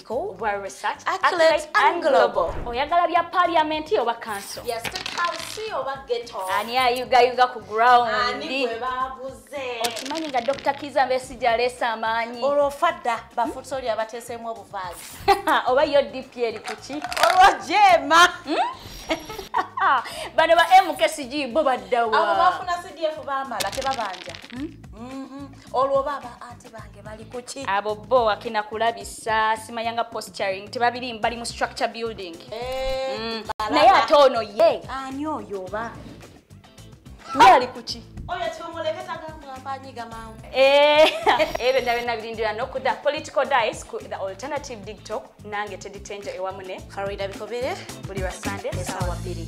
School, World Research, Accolades, and Global. Oyagala bya parliament oba council? Yes, to council oba ghetto. Ani ayuga yuga ku ground. Ani kwe babuze. Okimanyi nga Dr. Kiza Besigye aleese amaanyi. Olwo ofa dda bafuusa oli abateeseemu obuvaazi. Oba yo DP eri ku ki? Olwo jeema. Hmm? Bano ba MKCG bo baddawa. Abo bafuna CDF baamala tebabanja. Hmm? Mm-hmm. olwo baba ati bange bali kuki abo bo wakina kulabisa simayanga posturing tebabiri mbali mu structure building eh, mm. naye ate ono ye ani oyo oba ye ali kuki oyo tumuleketa gamu ambanyiga mawu eh, ebyo nda byonna birindira nokuda political dice ku the alternative digtok nange teditenja ewamune faroida bikobere buli lwa sande esawa bbiri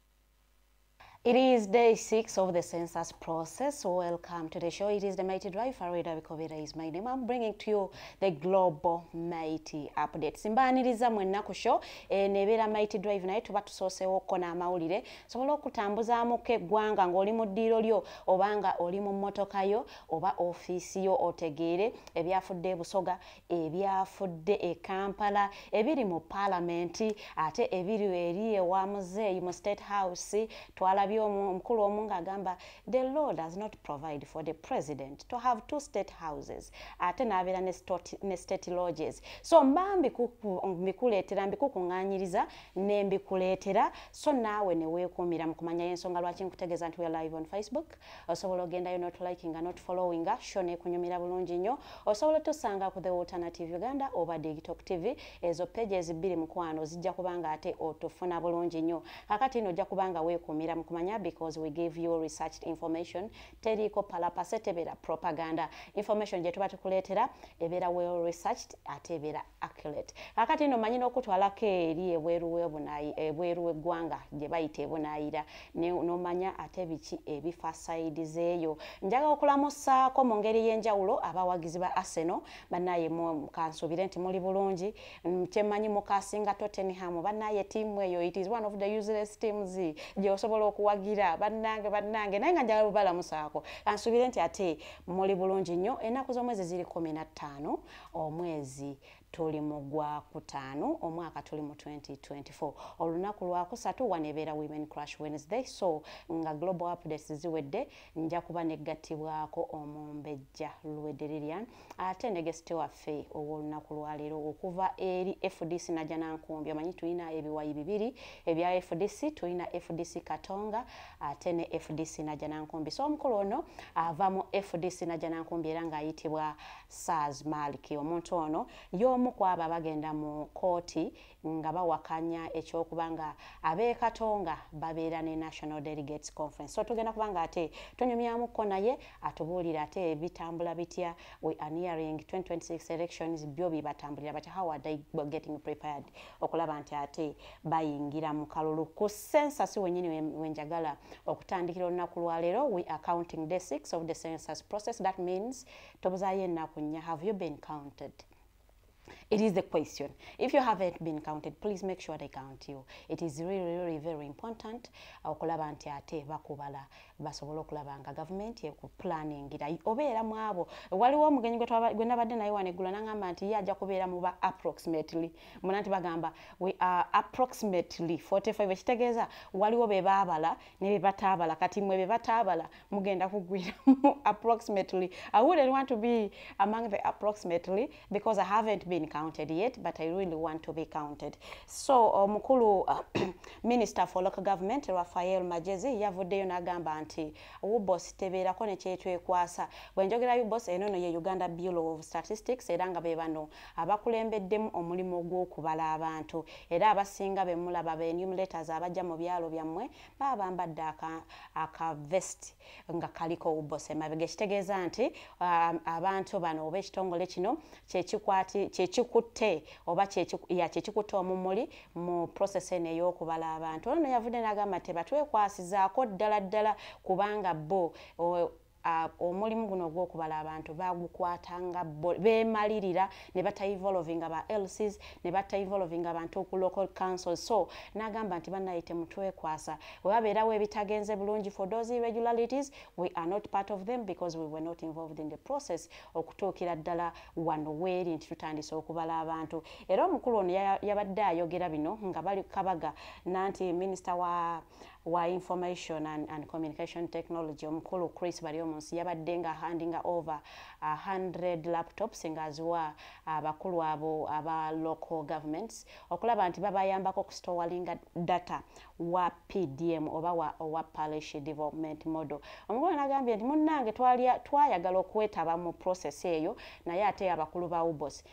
It is day six of the census process. Welcome to the show. It is the Mighty Drive. Farida Bikobera is my name. I'm bringing to you the global Mighty update. Simbaniriza mwenna ku show. E, nebera Mighty Drive naye tuba tusosewo ko na amawulire. Sobola okutambuzaamu ke gwanga ng'oli mu ddiiro lyo obanga oli mu mmotoka yo oba ofiisi yo otegeere ebyafudde e Busoga, ebyafudde e kampala ebiri mu paalamenti ate ebiri eri ewa muzeeyi mu state house twalabye omukulu omu ng'agamba the law does not provide for the president to have two state houses ate n'abeera ne state lodges so mba mbikuleetera mbikukuŋŋanyiriza ne mbikuleetera so naawe ne weekuumira mu kumanya y'ensonga lwaki nkutegeeza nti we live on facebook osobola ogendayo notlikinga notfollowinga sho nekunyumira bulungi nnyo osobola otusanga ku the alternative uganda oba digtok tv ezo peji ezibbiri mukwano zijja kubanga ate otufuna bulungi nnyo kakati ino ojja kubanga weekuumira mu kumanya because we give you research information teriiko palapase tebeera propaganda information gye tuba tukuleetera ebeera well researched ate ebeera accurate kakati ino manyi n'okutwalako eri ebweru w'eggwanga gye bayita ebunaayira nomanya ate biki ebifa sayidi zeeyo njaga okulamusaako mu ngeri y'enjawulo abawagizi ba arsenal banaye kansuubire nti muli bulungi mm, kyemanyi mukasinga tottenham banaye tiimu eyo it is one of the useless teams gyeosobola okuwagira bannange bannange naye nga njaga bubalamusaako kansuubire nti ate muli bulungi nnyo ennaku z'omwezi ziri kumi na ttaano omwezi tuli mu gwa kutaano omwaka tuli mu 2024 olunaku lwakusatu wano ebeera women crush wednesday so nga global updates ziwedde nja kuba negattibwako omumbejja lwederilian ate negesite waffe ow'olunaku lwaleero okuva eri fdc naja nankumbi omanyi tulina ebiwayi bibiri ebya fdc tulina fdc katonga ate ne fdc naja nankumbi so omukulu ono ava mu fdc naja nankumbi era ng'ayitibwa Saaz Maliki. Omuntu ono y'omu ku abo abagenda mu kkooti nga bawakanya eky'okuba nga ab'e Katonga babeera ne National Delegates Conference. So tugenda kuba nga ate tunyumyamukko naye atubuulire ate bitambula bitya we are nearing 2026 elections byo bibatambulira but how are they getting prepared okulaba nti ate bayingira mu kalulu ku census wenyini wenjagala okutandikira olunaku lwaleero we are counting day 6 of the census process that means tobuzayo ennaku nnya have you been counted it is the question if you haven't been counted please make sure they count you it is really really very important okulaba nti ate bakubala basobola okulaba nga gavumenti ekuplaningira obeera mu abo waliwo omugenyi gwe nabadde naye waneggula nangamba nti ye ajja kubeera muba approximately muna nti bagamba we are approximately 45 ekitegeeza waliwo be baabala ne bye bataabala kati mwe bye bataabala mugenda kugwiramu approximately i wouldn't want to be among the approximately because i haven't been counted yet but i really want to be counted so uh, mukulu uh, minister for local government rafael majezi yavuddeyo n'agamba nti ubos tebeerako ne kyetwekwasa bwe njogera ubos eno no ye uganda bureau of statistics era nga be bano abakulembeddemu omulimu ogw'okubala abantu era abasinga be mulaba be enumerators abajja mu byalo byammwe baba bambadde akavest nga kaliko ubose mabega ekitegeeza nti um, abantu bano oba ekitongole kino kyekikutte oba kyekikutte omumuli mu process eno ey'okubala abantu ono yavudde n'agamba nti batwekwasizaako ddala ddala kubanga bo Uh, omulimu guno ogwokubala abantu bagukwatanga bemalirira ne batayivolvinga ba lcs ne batayivolvinga abantu ku local council so nagamba nti banaye temutwekwasa webabeerawo ebitagenze bulungi for those irregularities we are not part of them because we were not involved in the process okutuukira ddala wano weeri nti tutandise okubala abantu era omukulu ono yabadde ayogera bino nga bali kabaga nanti minisita wa wa information and, and communication technology omukulu chris bali omunsi yabadde nga handinga over 100 uh, laptops nga aziwa abakulu uh, abo aba local governments okulaba nti babayambako okustowalinga data wa pdm oba wa, wa parish development model omukulu nagambye nti munnange twayagala okwetaba mu process eyo naye ate abakulu ba ubos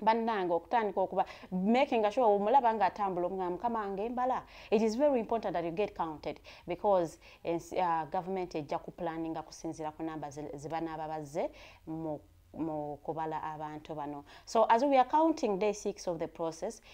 bannange okutandika okuba making sure omulaba nga atambula omugamba mukama wange embala it is very important that you get counted because uh, government ejja ku planninga kusinziira ku namba zebanaaba bazze mu mu kubala abantu bano so as we are counting day six of the process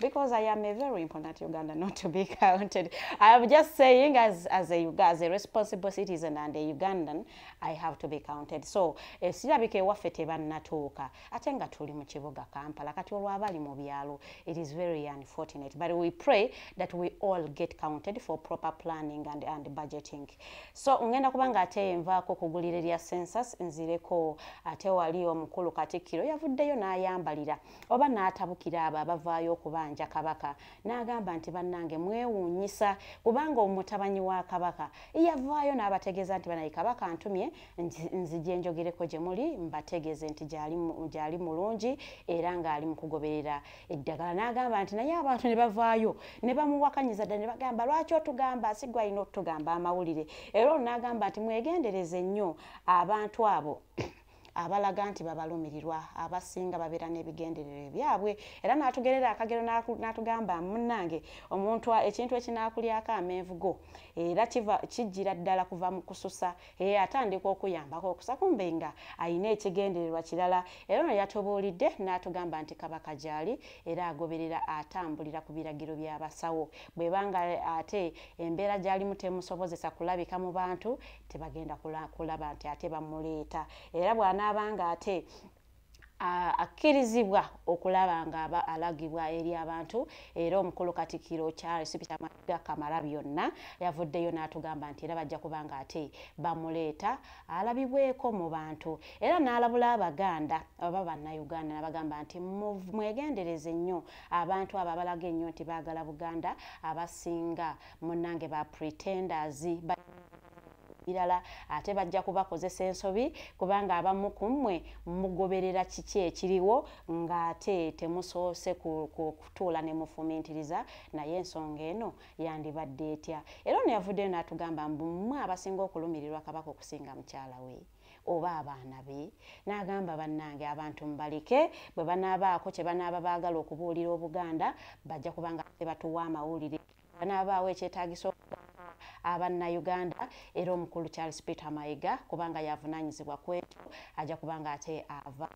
because I am a very important Uganda not to be counted. I am just saying as, as, a, as a responsible citizen and a Ugandan, I have to be counted. So, esirabika ewaffe tebannatuuka ate nga tuli mu kibuga Kampala kati olwabali mu byalo it is very unfortunate but we pray that we all get counted for proper planning and, and budgeting. So, ngenda kubanga ate nvaako kugulira erya census nzireko ate wali omukulu Katikkiro yavuddeyo n'ayambalira oba n'atabukira abo abavaayo okubanja kabaka n'agamba nti bannange mwewuunyisa kubanga omutabanyi wa kabaka yavaayo n'abategeeza nti banaye kabaka ntumye nzija enjogereko gye muli mbategeeze nti gyali mulungi era ng'ali mu kugoberera eddagala n'agamba nti naye abantu ne bavaayo ne bamuwakanyiza ddala ne bagamba lwaki otugamba sigwa alina otugamba amawulire era olwo n'agamba nti mwegendereze nnyo abantu abo abalaga nti babalumirirwa abasinga babeera n'ebigendererwa ebyabwe era n'atugerera akagero n'atugamba munnange omuntu ekintu ekinaakulyako amenvu go era kijjira ddala kuva mu kususa era atandika okuyambako okusa kumbe nga alina ekigendererwa kirala era ono yatubuulidde n'atugamba nti kabaka gyali era agoberera atambulira ku biragiro by'abasawo bwebanga ate embeera gyalimu temusobozesa kulabika mu bantu tebagenda kulaba nti ate bamuleeta era bw'anaaba nga ate akkirizibwa okulaba nga alagibwa eri abantu era omukulu katikiro charles peter maga kamara byonna yavuddeyo n'atugamba nti era bajja kuba nga ate bamuleeta alabibweko mu bantu era n'alabula abaganda oba bannayuganda nabagamba nti mwegendereze nnyo abantu abo abalaga ennyo nti baagala buganda abasinga munnange ba pretenders birala ate bajja kubakozesa ensobi kubanga abamu ku mmwe mugoberera kiki ekiriwo ng'ate temusoose kutuula ne mufumiitiriza naye ensonga eno yandibadde etya era ono yavuddeyo n'atugamba mbu mmwe abasinga okulumirirwa kabaka okusinga mukyala we oba abaana be n'agamba bannange abantu mubalike bwe banaabaako kye banaaba baagala okubuulira obuganda bajja kubanga tebatuwa amawulire anaabaawo ekyetaagisa abannayuganda era omukulu charles peter mayiga kubanga yavunaanyizibwa ku ekyo ajja kubanga ate ava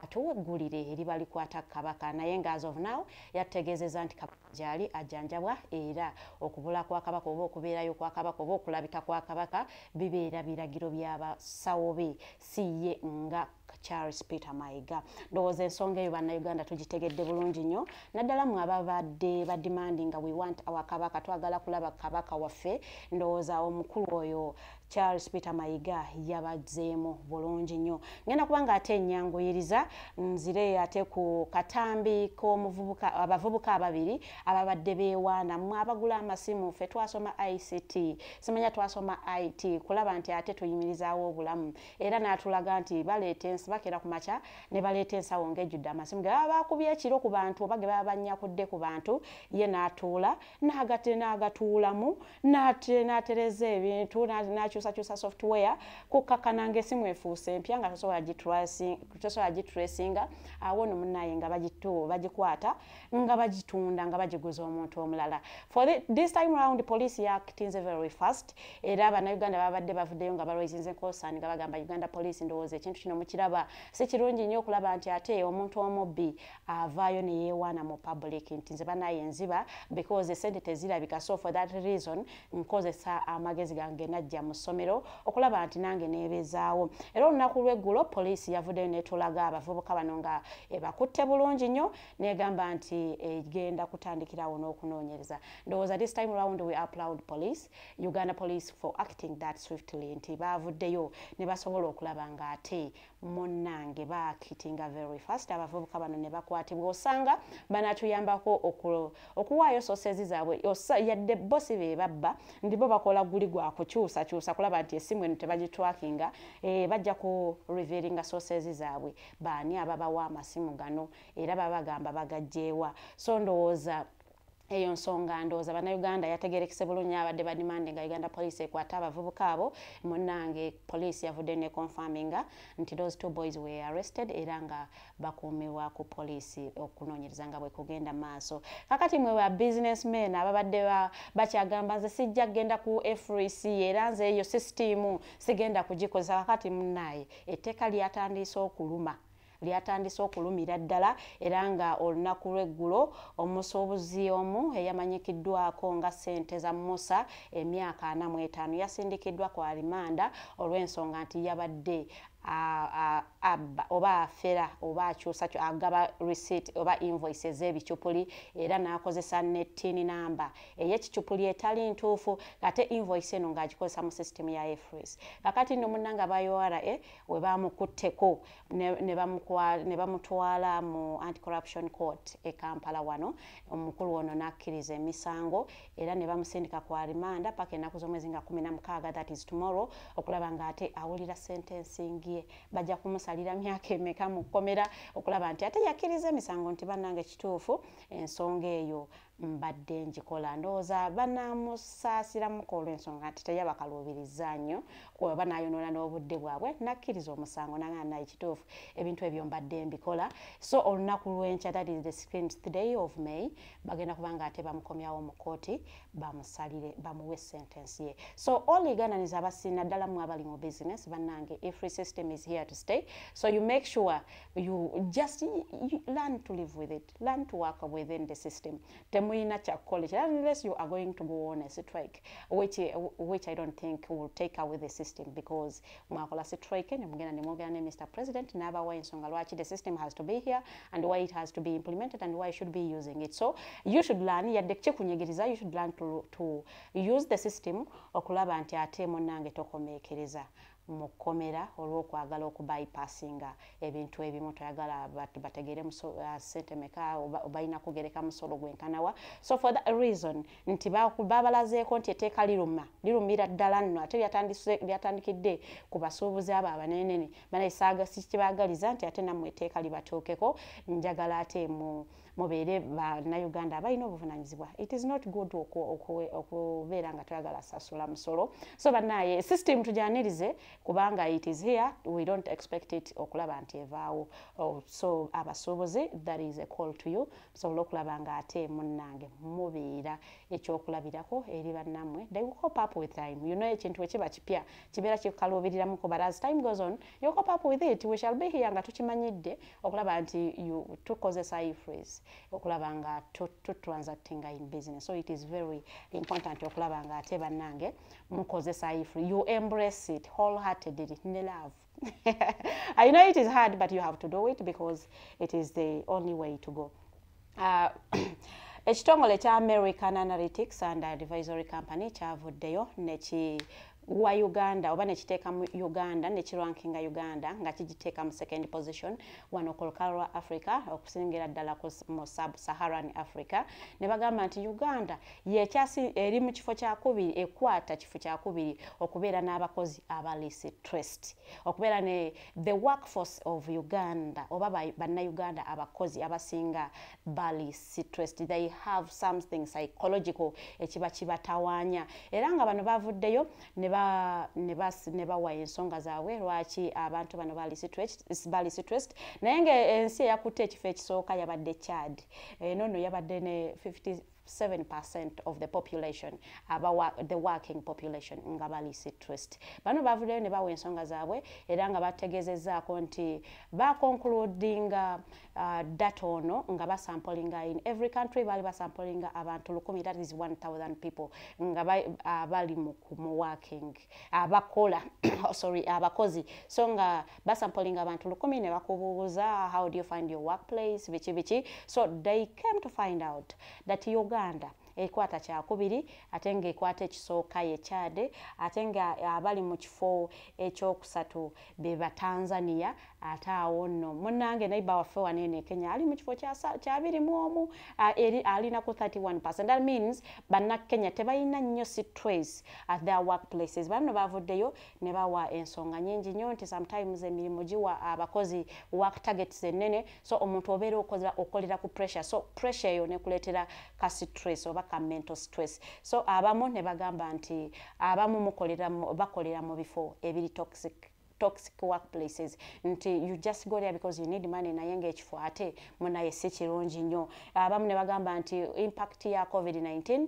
atuwa eggulire eriba likwata kabaka naye nga as of now yategeezeza nti kabaka gyali ajjanjabwa era okubula kwa kabaka oba okubeerayo kwa kabaka oba okulabika kwa kabaka bibeera biragiro by'abasawo be si ye nga charles peter mayiga ndowooza ensonga eyo bannayuganda tugitegedde bulungi nnyo naddala mwe ababadde badimandi nga we want our kabaka twagala kulaba kabaka waffe ndowooza omukulu oyo charles peter mayiga yabazeemu bulungi nnyo ngenda kubanga ate enyanguyiriza nzire ate ku katambi k'omuvubuka abavubuka ababiri ababadde beewaana mwe abagula amasimu ffe twasoma ict simanya twasoma it kulaba nti ate tuyimirizaawo obulamu era n'atulaga nti baleeta ensi bakera ku makya ne baleeta ensawo ng'ejjudde amasimu ge baba baakubye ekiro ku bantu oba ge baba bannyakudde ku bantu ye n'atuula n'agate n'agatuulamu n'atereza ebintu n'akyusakyusa software kukkakkana ng'esimu efuuse empya nga tosobola gitresinga awo no munnaye nga bagikwata nga bagitunda nga bagiguza omuntu omulala for the, this time round police yakitinze very fast era bannayuganda babadde bavuddeyo nga balwaizinze nkosani nga bagamba uganda police ndowooza ekintu kino mukiraba si kirungi nnyo okulaba nti ate omuntu omubbi avaayo neyewaana mu public nti nze banaye nziba because esente tezirabika so for that reason nkozesa amagezi gange najja mu ssomero okulaba nti nange nebezaawo era olunaku lweggulo police yavuddeyo netulaga abavubuka bano nga ebakutte bulungi nnyo negamba nti egenda eh, kutandikirawo n'okunoonyereza ndowooza this time round we applaud police uganda police for acting that swiftly nti baavuddeyo ne basobola okulaba ng'ate munnange baakitinga very fast abavubuka bano ne bakwatibwa osanga banatuyambako okuwaayo sosezi zaabwe yadde bo si be babba ndi bo bakola guli gwa kukyusakyusa kulaba nti esimu eno tebagitwakinga eh, bajja ku revealinga sosezi zaabwe baani ababawa amasimu gano era baba bagamba bagajjeewa so ndowooza eyo nsonga ndowooza bannayuganda yategerekese bulungi abadde badimande nga uganda police ekwata abavubuka abo munange police yavudde ne confirminga nti those two boys were arrested era nga bakuumibwa ku police okunoonyereza nga bwekugenda maaso kakati mwe ba business men ababadde bakyagamba nze sijja kugenda ku frec era nze eyo sisitiimu sigenda kugikozesa kakati munaaye etteeka lyatandiise okuluma lyatandise okulumira ddala era nga olunaku lw'eggulo omusuubuzi omu eyamanyikiddwako nga ssente za musa emyaka ana mu etaano yasindikiddwa ku alimanda olw'ensonga nti yabadde abba oba afera oba akyusa agaba receipt oba invoice ez'ebicupuli era n'akozesa ne tin namba ey'ekicupuli etali ntuufu ate invoice eno ng'agikozesa mu system ya efres kakati nno munnanga ba ura we baamukutteko ne bamutwala mu anti corruption court e kampala wano omukulu ono n'akkiriza emisango era ne bamusindika ku arimanda paka ennaku z'omwezi nga kumi na mukaaga that is tomorrow okulaba ng'ate awulira sentencing ye bajja kumusalira myaka emeka mu kkomera okulaba nti ate yakkiriza emisango nti bannange kituufu ensonga eyo mbadde ngikola ndowooza banaamusaasiramuko olw'ensonga nti teyabakaluubiriza nnyo oba naayonoona n'obudde bwabwe nakkiriza omusango nagana naye kituufu ebintu ebyo mbadde mbikola so olunaku lw'enkya that is the screens today of may bagenda kuba nga ate bamukomyawo mu kkooti bamusalire bamuwe sentence ye so all egananiza abasiina ddala mwe abali mu business bannange a free system is here to stay so you make sure you just you learn to live with it learn to work within the system temuyina kyakukola ekira unless you are going to go on a strike which, which i don't think will take away the system because mwakola strike nemugenda nemwogera ne mr president nabawa ensonga lwaki the system has to be here and why it has to be implemented and why you should be using it so you should learn yadde kikunyigiriza you should learn to, to use the system okulaba nti ate munange tokomekereza mu kkomera olw'okwagala okubypassinga ebintu ebimu toyagala bategeere uh, sente meka balina kugereka musolo gwenkanawa so for that reason nti babalazeeko nti eteeka liruma lirumira ddala nno ate lyatandikidde ku basuubuzi abo abanenene banaye saaga sikibaagaliza nti ate nammwe eteeka libatuukeko njagala ate mu mubeere bannayuganda abalina obuvunanyizibwa it is not good okubeera nga toyagala sasula musolo so banaye system tujanirize kubanga it is here we don't expect it okulaba nti evaawo oh, so abasuubuzi that is a call to you musobole okulaba nga ate munnange mubeera ekyokulabirako eri bannammwe they will cop up with time you know ekintu ekiba kipya kibeera kikukaluubiriramuko but as time goes on you cop up with it we shall be here nga tukimanyidde okulaba nti tukozesa ifres okulaba nga tutransactinga in business so it is very important okulaba nga ate bannange mukozesa ifre you embrace it whole heartedly ne love i know it is hard but you have to do it because it is the only way to go uh, ekitongole kya american analytics and advisory company kyavuddeyo neki wa uganda oba nekiteeka mu uganda nekirankinga uganda nga kigiteeka mu second position wano ku lukalo lwa africa okusingira ddala mu sub saharan africa ne bagamba nti uganda yekyasi eri mu kifo kyakubiri ekwata kifo kyakubiri okubeera n'abakozi abalisi trust okubeera ne the workforce of uganda oba bannauganda abakozi abasinga bali stressed they have something psychological ekiba kibatawanya era nga bano bavuddeyo ne bawa ensonga zaabwe lwaki abantu bano bali stressed naye nga ensi eyakutte ekifo ekisooka yabadde chad eno eh, no yabadde ne 50 7% of the population aba the working population nga bali citrist bano bavudeyo ne bawa ensonga zaabwe era nga bategezezaako nti bakonkuludinga uh, data ono nga basampolinga in every country baali basampolinga abantu lukumi that is 1000 people nga uh, bali mu working abakola oh, sorry abakozi so nga uh, basampolinga abantu lukumi ne bakubuubuza how do you find your workplace biki biki so they came to find out that uganda ekwata kyakubiri ate nga ekwata ekisooka ye chade ate nga abali mu kifo ekyokusatu be batanzania ate awo nno munange naiba waffe waneene kenya ali mu kifo kyabiri mu omu alina ku 31 percent that means bannakenya tebalina nnyo sitrace at their work places banno bavuddeyo ne bawa ensonga nyingi nnyo nti sometimes emirimu giwa abakozi work targets ennene so omuntu obeera okoza okolera ku pressure so pressure eyo nekuleetera ka stress oba ka mental stress so abamu ne bagamba nti abamu mukolera bakolera mu bifo ebiri toxic toxic workplaces nti you just go there because you need money naye ngaekifo ate munaye si kirungi nnyo abamu ne bagamba nti impact ya covid-19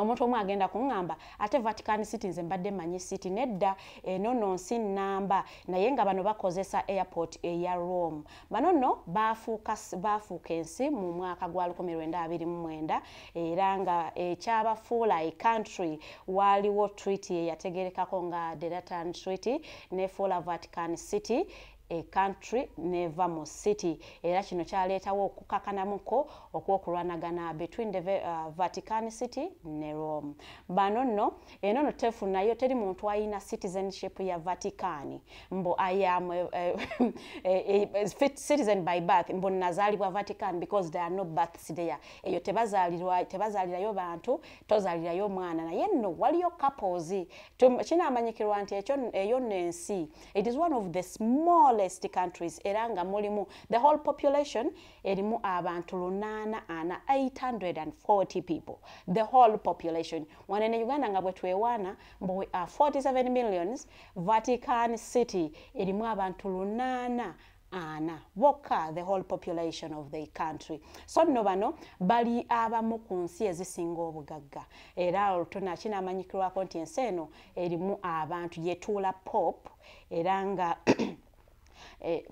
omuntu omu agenda kuŋŋamba ate vatican city nze mbadde manyi city nedda eno no nsi nnamba naye nga bano bakozesa airport eya rome bano nno baafuuka ensi mu mwaka gwa 1929 era nga ekyabafuula e country waaliwo treaty eyategerekako nga deratan treaty nefuula vatican city e country neva mu city era kino kyaleetawo okukakanamuko okwokulwanagana between the uh, vatican city ne rome bano nno eno no tefu nayo teri muntu ayina citizenship ya vatican mbu iam uh, eh, eh, eh, fit citizen by birth mbu nazaalibwa vatican because there are no births there eyo tebazaalirayo bantu tozaalirayo omwana naye nno waliyo couples kinaamanyikirwa nti eyo nno ensi it is one of the smallest countries era nga mulimu the whole population erimu abantu lunaana ana 840 people the whole population wane ne uganda nga bwetwewaana mbu we are 47 millions vatican city erimu abantu lunaana ana bokka the whole population of the country so nno bano bali abamu ku nsi ezisinga obugagga era olutona kinamanyikirwako nti ensi eno erimu abantu yetuula pop era nga Eh,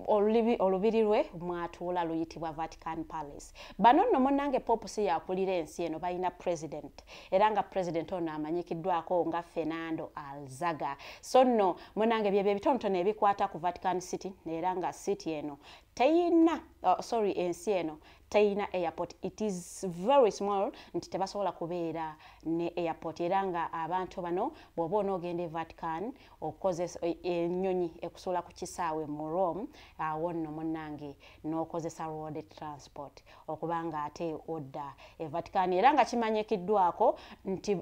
olubiri lwe mwatuula luyitibwa vatican palace bano nno munange pope si yakulira ensi eno balina president era nga president ono amanyikiddwako nga fernando alzaga so nno munange byebyo ebitonotono ebikwata ku vatican city era nga city eno teyina uh, sorry ensi eno teyina airport it is very small nti tebasobola kubeera ne airport era nga abantu bano bwoba onoogenda e vatican okukozesa e, enyonyi ekusuula ku kisaawe mu rome awo nno munange n'okozesa road transport okuba nga ate odda e vatican era nga kimanyikiddwako nti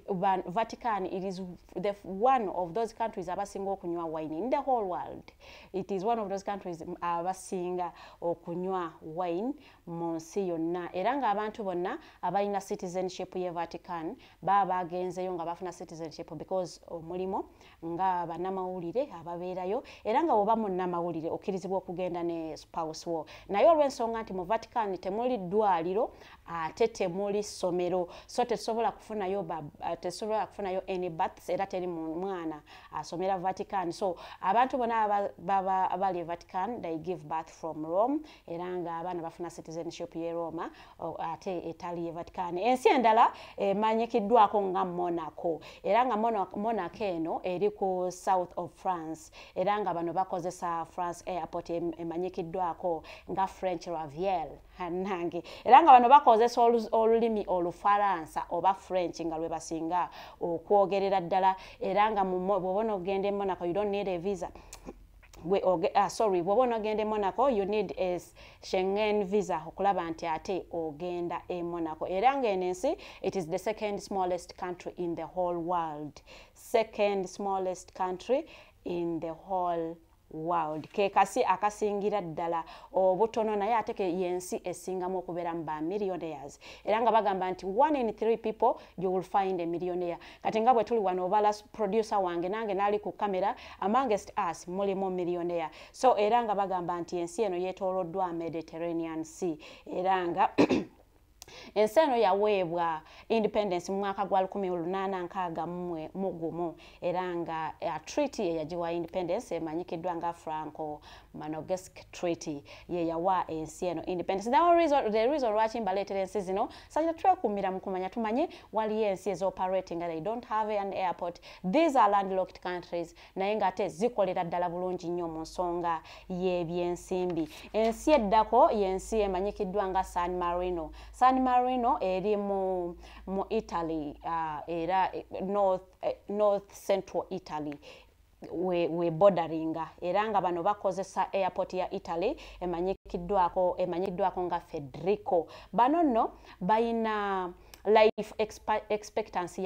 vatican it is the one of those countries abasinga okunywa wine in the whole world it is one of those countries abasinga okunywa wine mu nsi yonna era ng'abantu bonna abalina citizenship ye vatican baba bagenzeyo nga bafuna citizenship because omulimu nga banamawulire ababeerayo era nga woba munamawulire okkirizibwa okugenda ne spouse wo naye olw'ensonga nti mu vatican temuli ddwaliro ate temuli ssomero so tetusobola kufunayo eh, tetusobola kufunayo any baths era teri mwana asomera vatican so abantu bona abali e vatican they give bath from rome era nga abaana bafuna citizenship ye roma ate etali ye vatican ensi endala emanyikiddwako nga monaco era nga monaco eno eri ku south of france era nga bano bakozesa france airport emanyikiddwako nga french raviel hanange era nga bano bakozesa olulimi olufaransa oba french nga lwebasinga okwogerera ddala era nga bwobona okugenda emonaco you don't need a visa gwe oge ah, sorry bwoba onogenda e monaco you need a shengen visa okulaba nti ate ogenda e monaco era ngaeno ensi it is the second smallest country in the whole world second smallest country in the whole world. world kekasi akasingira ddala obutono naye ate yensi esingamu okubeeramu ba millionaires era nga bagamba nti one in three people you will find a millionaire kati nga bwe tuli wano obala producer wange nange naali ku camera amongst us mulimu millionaire so era nga bagamba nti ensi eno yetooloddwa mediterranean sea era nga ensi eno yaweebwa independence mu mwaka gwa 1861 mu gumu era nga uh, treaty eyagiwa independence emanyikiddwa nga franco Manogesk Treaty ye yawa ensi eno independence. The only reason, the reason lwaki mbaleetera ensi zino sakira twekuumira mu kumanya tumanye waliyo ensi ezi operating they don't have an airport. These are landlocked countries naye nga ate zikolera ddala bulungi nnyo mu nsonga y'ebyensimbi. Ensi eddako y'ensi emanyikiddwa nga San Marino. San Marino eri mu, mu Italy uh, era eh, north, eh, north central Italy we, we borderinga era nga bano bakozesa airport ya italy emanyikiddwako emanyiddwako nga federico bano nno bayina life expectancy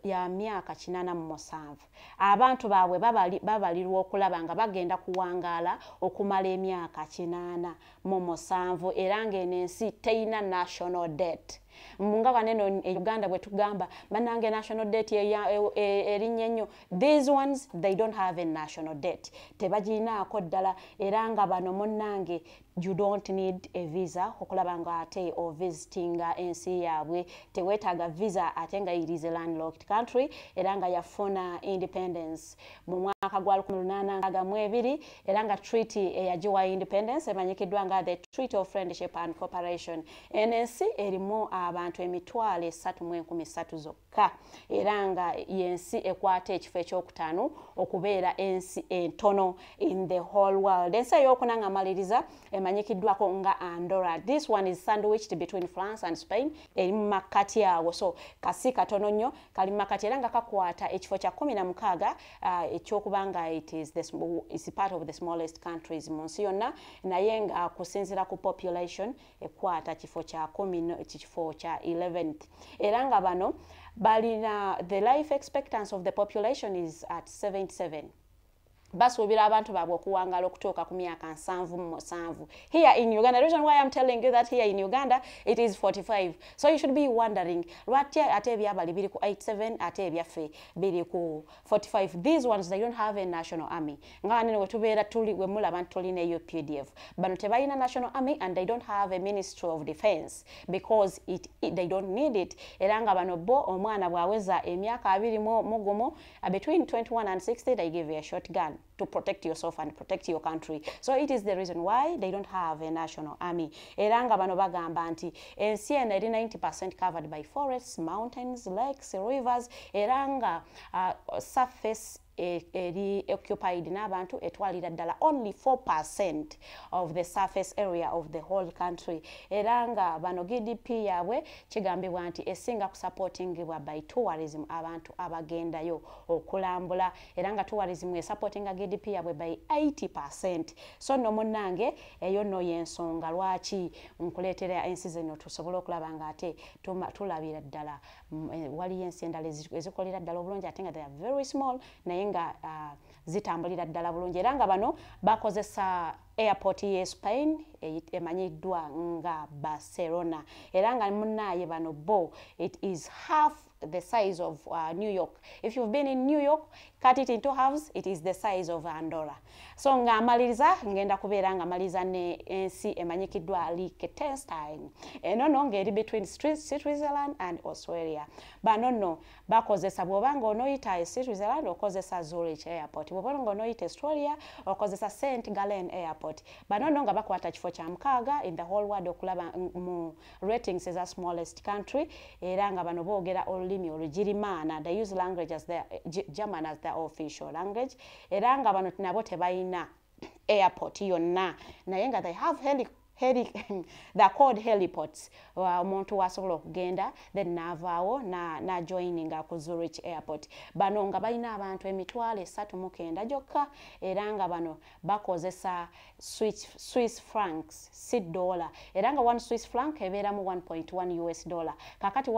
ya myaka kinana mu musanvu abantu baabwe babalirwa okulaba nga bagenda kuwangaala okumala emyaka kinana mu musanvu era ngaeno ensi teyina national debt nga baneno e uganda bwetugamba banange national debt e, e, erinnya ennyo these ones they don't have a national debt tebagirinaako ddala era nga bano munnange you don't need a visa okulaba nga ate ovisitinga ensi yaabwe teweetaaga visa ate nga it is a landlocked country era nga yafuna independence mu mwaka gwa 1862 era nga treaty eyagiwa independence emanyikiddwa nga the treaty of friendship and cooperation eno ensi erimu abantu emitwalo esatu mu enkumi satu zokka yokka era nga yensi ekwata ekifo ekyokutaano okubeera ensi entono in the whole world ensi eyokuna nga maliriza emanyikiddwako nga andora this one is sandwiched between france and spain eri mu makkati awo so kasi katono nnyo kali mu makkati era nga kakwata ekifo kya kumi na mukaaga uh, ekyokuba nga it is the, is part of the smallest countries mu nsi yonna naye nga kusinzira ku population ekwata kifo kya komino kifo kya 11th era nga bano balina the life expectance of the population is at 77 basuubira abantu baabwe okuwangaala okutuuka ku myaka nsanvu mu musanvu here in uganda the reason why i'm telling you that here in uganda it is 45 so you should be wondering lwatya ate ebyabali biri ku 87 ate ebyaffe biri ku 45 these ones they don't have a national army nga nene wetubeera tuli wemulaba nti tulina eyo pdf bano tebalina national army and they don't have a ministry of defense because it, it, they don't need it era nga bano bo omwana bwaweza emyaka abiri mugumu between 21 and 60 they give a short gun to protect yourself and protect your country so it is the reason why they don't have a national army era nga bano bagamba nti ensi eno eri 90 percent covered by forests mountains lakes rivers era nga uh, surface e, eri occupied n'abantu etwalira ddala only 4 percent of the surface area of the whole country era nga bano gdp yaabwe kigambibwa nti esinga kusupportingibwa by tourism abantu abagendayo okulambula era nga tourism esupportinga gdp yabwe by 80 percent so no munange eyo no yensonga lwaki nkuleetera ensi zino tusobole okulaba nga ate tulabira ddala mm, eh, waliyo ensi endala ezikolera ddala obulungi ate nga they are very small naye nga uh, zitambulira ddala bulungi era nga bano bakozesa airport ye spain emanyiddwa nga barcelona era nga munaaye bano bo it is half the size of uh, New York. If you've been in New York, cut it into halves, it is the size of Andorra. So nga amaliza, ngenda kubera nga amaliza ne ensi emanyikidwa Liechtenstein. Eno no ngeri between Switzerland and Australia. Ba no no, bakozesa bwoba nga onoyita e Switzerland okozesa Zurich Airport. Bwoba nga onoyita Australia okozesa St. Gallen Airport. Ba no no nga bakwata kifo kya mukaaga in the whole world okulaba mu ratings is a smallest country era nga bano boogera olulimi olugirimaana they use language as their, german as their official language era nga bano nabo tebalina airport yonna naye nga they have heli heli the called heliports omuntu wasobola okugenda then naavaawo najoininga na ku zurich airport bano nga balina abantu emitwalo esatu mukenda gyokka era nga bano bakozesa swiss francs si dollar era nga one swiss franc ebeeramu 1.1 us dollar kakati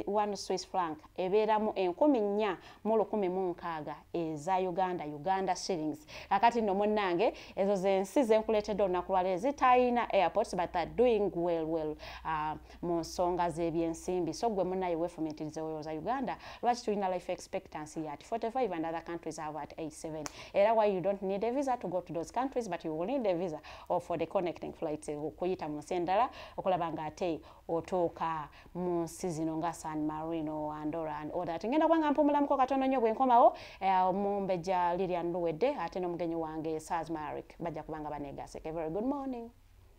one swiss franc ebeeramu enkumi nnya mu lukumi mu nkaaga eza uganda uganda shillings kakati nno munnange ezo zensi zenkuleetedde olunaku lwaleero zitalina airports but are doing well well uh, mu nsonga z'ebyensimbi so gwe munaye wefumitirize olowooza uganda lwaki tulina life expectancy yat 45 and other countries have at 87 era why you don't need a visa to go to those countries but you will need a visa or for the connecting flights eh, okuyita mu nsi endala okulaba nga ate otuuka mu nsi zino nga san marino andora and all that ngenda kubanga mpumulamuko katono nnyo bwenkomawo eh, omumbejja lilian luwedde ate n'omugenyi wange sasmaric bajja kubanga banegaseke very good morning